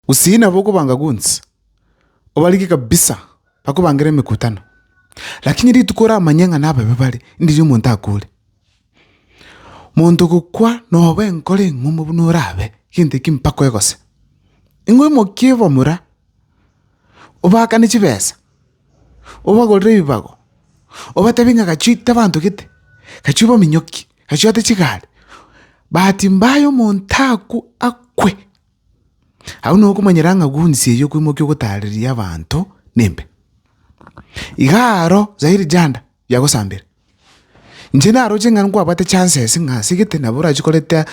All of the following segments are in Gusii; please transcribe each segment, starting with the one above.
Gusii nabo okobanga gwonsi, obarike kabisa, bakobangere emekutano. Lakini rituko oramanye ng'a nababe bare, ndirio omonto akure. Monto gokwa nobe enkoro eng'umo buna orabe, gento ekio mpaka oegose. Ing'we mokie bamura, obaakane chibesa, obagorere ebibago, obatebi ng'a gachio ita abanto gete, gachio baminyoki, gachio ate chigari, bahati mbaya omonto akwe. Agwo nigo okomanyera ng'a gwonsi eyio kwemokia ogotaareria abanto nembe. Iga aro zairi janda yagosambera. Inche naroche ng'a nkwabwate chances ng'a ase egete nabo orachie koreta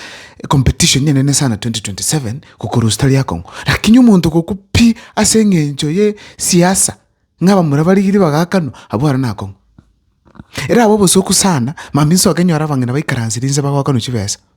competition enene sana twenty twenty seven gokorusia tari akong'u. Lakini omonto ogokwa pi ase eng'encho ye siasa ng'a abamura barigirie bagakanwa abwo aro nakong'u. Erabe obosuku sana mambia nsoke nyore abang'ina baikaransire inse bagoakanwa chibesa.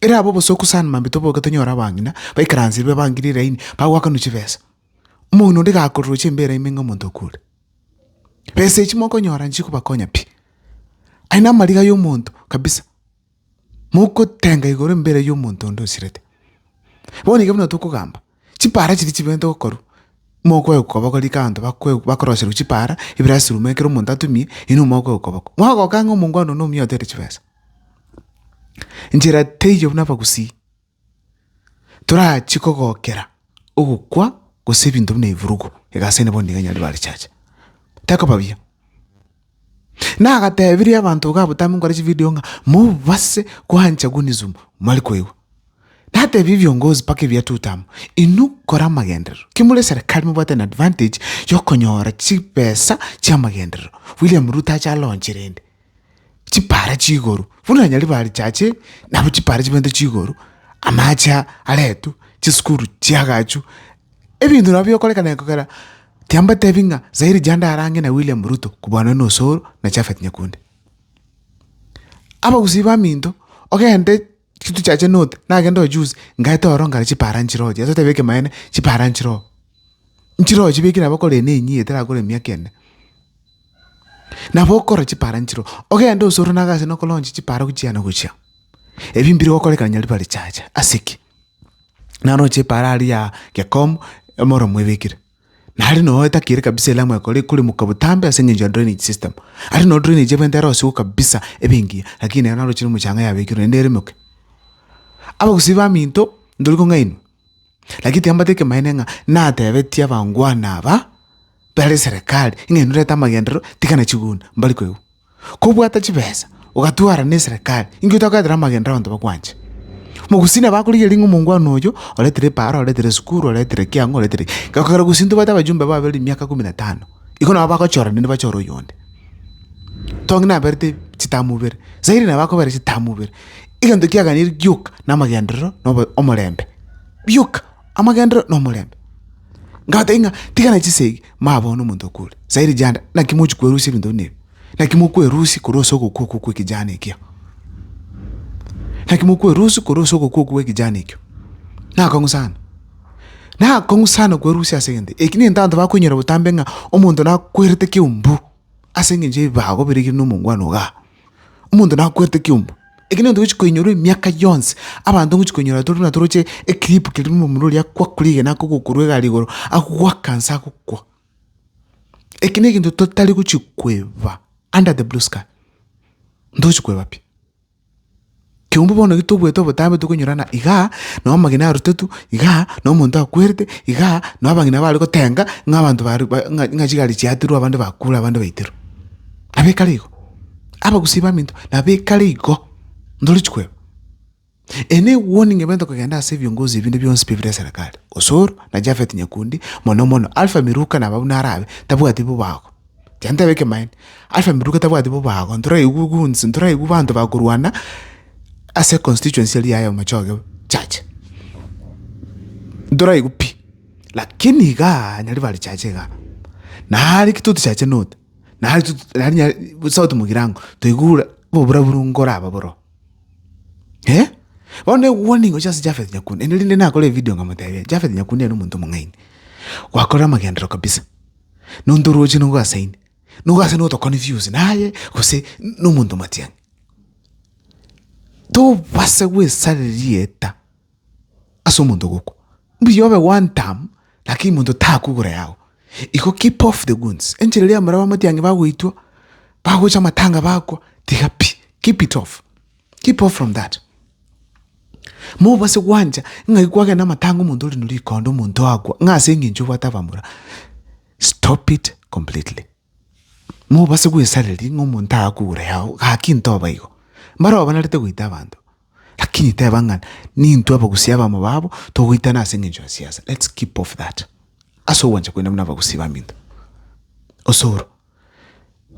Ere aba obosooku sana mambia toboke tonyore abang'ina baikaransirwe bangire elaini bagoakanwa chibesa. Omong'ina onde gakororoche embera ime ng'a omonto okure. Besa echi mokonyora nchikobakonya pi. Aye namariga yomonto kabisa, mogotenga igoro embera yomonto onde osirete. Bono iga buna tokogamba, Chipaara chiria chibente gokorwa, mokoegwa koboko rika abanto bakoegwa bakorosherwa chipaara ebirasiruma ekero omonto atumie, inwe mokoegwa koboko. Mogoka ng'a omongwana one omuya otere chibesa. Nchera teiyo buna abagusii, torachie kogokera ogokwa gose ebinto buna ebirugu, egasi ene bono nigo enyare bare chacha. Tekoba buya. Na agatebirie abanto iga abotambe nkore chividio ng'a mobase kwancha Gunism mwari koigwa. Natebie ebiongozi mpaka ebia tuto amo, inwe kora amagenderero. Ki more eserekari mobwate an advantage yokonyora chibesa chi'amagenderero. William Ruto ache alaunche rende chipara chi'igoro, buna nonye rebarecha ache nabo chipara chibente chi'igoro, amache aretwe, chisukuru chiagachwe, ebinto nabo bigokorekana kogera. Timbatebi ng'a Zairi Janda arang'e na William Ruto kobwanwa na Osoro na Japhet Nyakundi. Abagusii baminto, ogende chituchi ache note, nagende oo juzi, ngaete ororo ngare chipara nchire oo, Jeso otebe ekemaene, chipara nchire oo. Nchire oo chibeke nabo okore ene enyia etarakora emiaka ene. Nabo okore chipara nchire oo. Ogende Osoro nagase nokolonchi chipara gochia na gochia. Ebi mbire gokorekana nyaribari chiacha. Ase ki? naroche paaro aria ya gekomo emoro mwebekire nari noo etakire kabisa elamu ekore ekoremoka botambe ase eng'encho ya drainage system. Aria noo drainage ebente ero sugu kabisa ebe engiya lakini ero narochire mochanga yabekirwe naende eremoke. Abagusii baminto ndori kong'ainwa lakini timbambate ekemanyeene ng'a natebetie abangwana aba bare serekari ng'a inwe reta amagenderero tigana chigunda mbari koigwa. Kobwata chibesa, ogatwara neserekari, inki otakoetera amagena abanto bakwanche? Mogusii nabo akorigereria ng'a omongwana oyo oretire epaaro, oretire esukuru, oretire ki ang'o, oretire ki. Gekogera gosii ntobwate abajumbe baabo bare emiaka ikomi na tano, igo nabo bagochora naende bachore oyonde. Tongi naberete chitamu ibere, Zaire nabo akobera chitamu ibere. Egento kiaganeiri gioka namagenderero na obo- omorembe. Bioka, amagenderero na omorembe. Ngabatebi ng'a tigana chisegi, Maya bono omonto okwo ore sairi janda, naki mochi kwerusia ebinto buna ebi? Naki mokwerusia korwa ase ogokwa okwo kw'ekejana ekio? Naki mokwerusia korwa ase ogokwa okwo kw'ekejana ekio? Nakong'u sana, nakong'u sana kwerusia ase egento eki. Egento abanto bakoinyora botambe ng'a omonto nakwerete ekeumbu. Ase engencho y'ebibago birigiire nomongwana oga, omonto nakwerete ekiombe. Eke negento togochi koinyorwa emiaka yonsi, abanto ngochi koinyora tore natoroche eclip keria omomura oria akwa kuri igena ake ogokurwa egari igoro, agoaka nse agokwa. Eke negento totari gochi kweba under the blue sky, ntogochi kweba pi. Kiombe bono ekero toboete obotambe tokonyorana igaa, na amagena arutetwe igaa, na omonto akwerete igaa, na abang'ina bare gotenga ng'a abanto bare ba ng'a ng'a chigari chiaterwe abande bakure abande baiterwe. Nabo ekare igo, abagusii baminto nabo ekare igo, ntorichi koeba. Eye ne ewarning ebente kogenda ase ebiongozi ebinde bionsi pi bire eserekari, Osoro na Japhet Nyakundi, mono mono Alpha Miruka naba buna arabe, tabwati bobago. Aye ntebe ekemaene, Alpha Miruka tabwati bobago, ntoraigwe goons, ntoraigwe banto bakorwana ase econstituency eria yaye omochoge church. Ntoraigwe pi, lakini igaa nyaria bare church igaa, nare ki totichache note, nare ki nari nya sauti mogirango, toigure oboburaburu nkoraba boro iga. Bono ne warning gochia ase Japhet Nyakuna, ende rinde nakore evidio nkamotebia, Japhet Nyakuna ere omonto omong'aini, gwakora amagenderero kabisa, nonto orooche nigo ase inde, nigo ase notokoni views naye gose nomonto omatianyi. Tobasa gwesare rieta ase omonto ogokwa, mbuya obe one term lakini monto takugura eyago. Igo keep off the goons, enchera eria amaraba amatianyi bagoitwa, bagocha amatanga bakwa, tiga pi, keep it off. Keep off from that. Mobase gwancha ng'ai kwagenda amatanga omonto ore norikondo omonto akwa ng'a ase eng'encho obwate abamura. Stop it completely. Mobase gwesareri ng'a omonto akure yao gaki ntoba igo. Mbaro abanarete goita abanto. Lakini teba ng'a nintwe abagusia abamo babo togoitana ase eng'encho ya siasa. Let's keep off that. Ase ogwancha kwaino buna abagusi baminto. Osoro.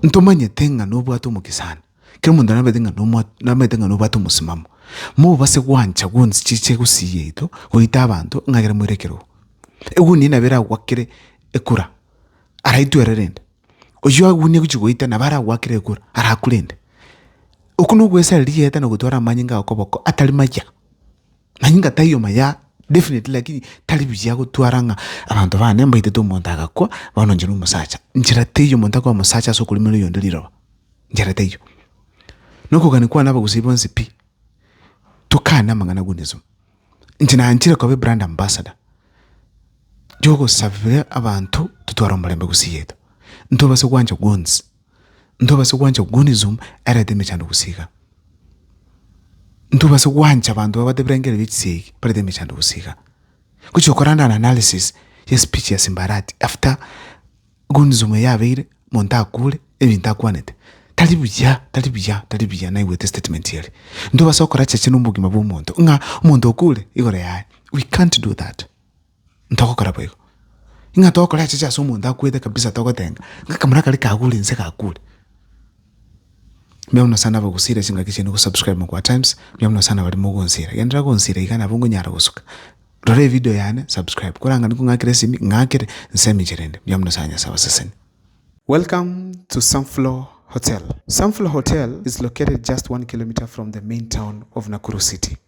Ntomanyete ng'a nobwate omokesani. Kera omonto nabete ng'a nomwa nabete ng'a nobwate omosimamo, mobase gwancha gonsi chiche gosii yaito goita abanto ng'a ekero moire ekerogo. Egunia nabo eragwakere ekura, araitwe ere rende, oyio egunia egochi goita nabo aragwakere ekura arakure ende. Oko nogwesareri rieta na ogotwara amanyinga okoboko atari maya. Nonye inga tari omaya definitely lakini tari buya gotwara ng'a abanto bane mbaitete omonto agakwa bono inche nomosacha. Nchera teiyo omonto akoa mosacha ase okorimera oyonde riroba, nchera teiyo. Na okogania kwane abagusii bonsi pi, tokane amang'ana Onesimo. Inche nanchire koba ebrand ambassador yogosabera abanto totware omorembe gusii yaito, ntobase gwancha gwonsi. ntobase gwancha gunism erete emechando gose iga. Ntobase gwancha abanto babwate ebirengereri bie chisegi barete emechando gose iga. Gochi gokora an analysis ye speech ya simbarati after gunism eye yabeire, monto akure, ebinto akwanete. Tari buya, tari buya, tari buya naigwete statement eye. Ntobase gokora cheche na obogima bwa omonto, ng'a omonto okure igoro yaye, we can't do that. ntogokora boigo. Ng'a togokora echiche ase omonto akwete kabisa togotenga, ng'a kamoro akare kagure nse gakure. Mbuya mono sana abagusire chingaki chiaino gosubscribe Mogwa Times, mbuya mono sana baria mogonsira. Genderera gonsira iga nabo ngonyara gosuka. Rora evideo yane, subscribe. Korang'ani kong'akera esimi, ng'akere, nsemi inche rende. Mbuya mono sana Nyasae abaseseni. Welcome to Sunflower Hotel. Sunflower Hotel is located just one kilometer from the main town of Nakuru City.